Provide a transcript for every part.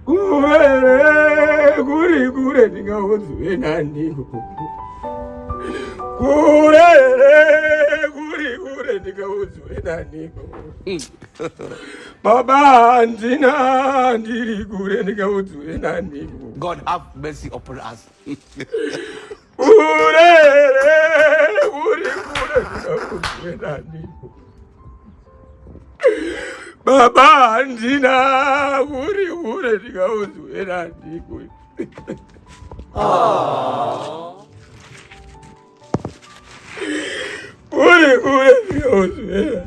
Kure kuri kure ndingaudzwe nani kure kuri kure ndingaudzwe nani baba handina ndiri kure ndingaudzwe nani God have mercy upon us Urere uri kure ndingakudzwe nani. Baba handina uri kure ndingakudzwe nani. Uri kure ndingakudzwe nani.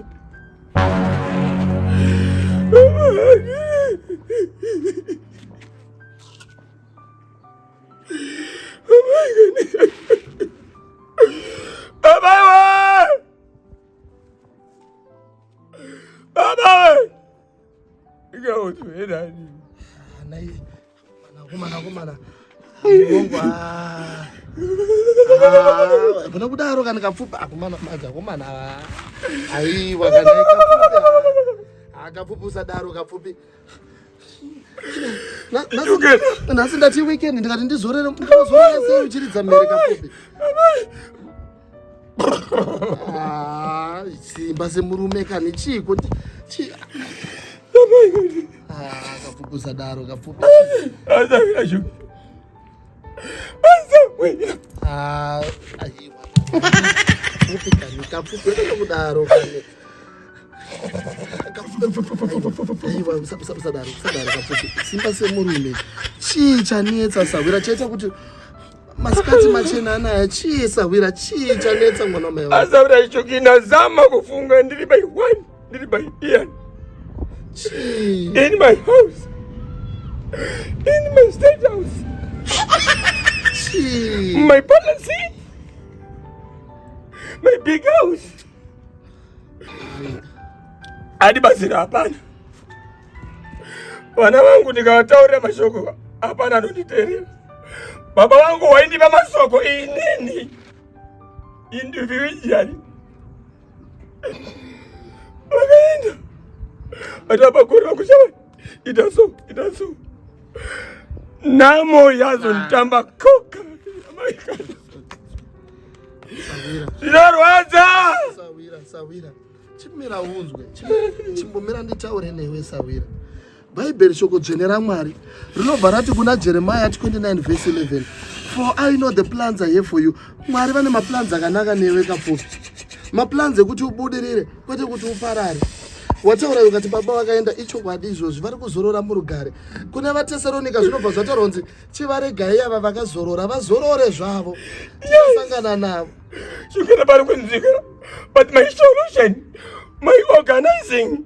Kuna kudaro kana kapfupi akomana mazi akomana aiwa kana kapfupi akapfupi usadaro kapfupi nhasi ndati weekend ndikati ndizorere ndinozorere sei uchiridza mhere kapobe ah, simba semurume kani chiiko ah, kafukusadaro kafukusa simba semurume chii chanetsa sahwira chaita kuti masikati machena anaya chii sahwira chii chanetsa mwana mai asahwira icho kinazama kufunga ndiri by one ndiri by ian in my house in my state house my policy my big house adi bazira hapana vana vangu ndikavataurira mashoko hapana anonditerera baba wangu waindipa masoko inini individually vakaenda but vapakorera kushava ita so ita so namo yazonditamba koka zvinorwadza sawira sawira chimira unzwe chimbomira nditaure newe sawira bhaibheri shoko dzvene ramwari rinobva rati kuna jeremiya 29 vhesi 11 for i know the plans i have for you mwari vane maplans akanaka newe kapupi maplans ekuti ubudirire kwete kuti uparare wataura ukati baba vakaenda ichokwadi izvozvi vari kuzorora murugare kune vatesaronika zvinobva zvataurwa kunzi chivaregai ava vakazorora vazorore zvavo vasangana navo zvingana vari kunzika but my solution my organizing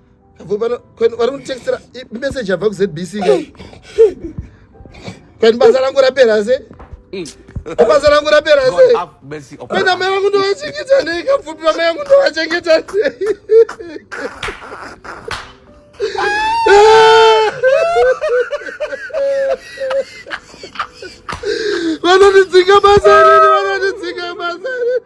vari kunditextera message yabva kuzbc kani basa rangu rapera se basa rangu rapera se kani amai vangu ndovachengeta nei kapfupi vamai vangu ndovachengeta nei vanondidzinga basa rini vanondidzinga basa rini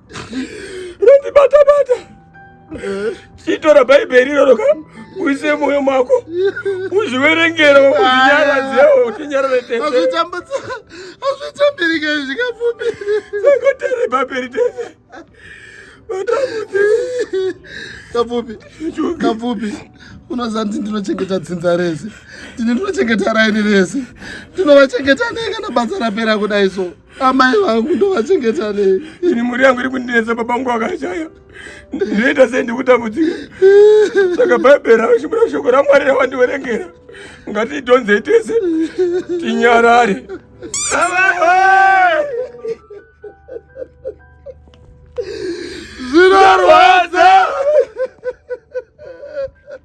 rondibata bata chitora bhaibheri iroro ka uise mwoyo mako uzviverengera unyarazewo utinyarare tesezvitambirika zvikapfupi sakoteri bhaibheri tese kapfupi kapfupi unoziva kuti ndinochengeta dzinza rese ndini ndinochengeta raini rese ndinovachengeta nei kana basa rapera kudai so amai vangu ndovachengeta nei ini mhuri yangu iri kundinetsa baba vangu vakashaya ndinoita sei ndikutambudzika saka bhaibheri raushumira shoko ramwari rawandiverengera ngatiitonzei tese tinyarare zvinorwadza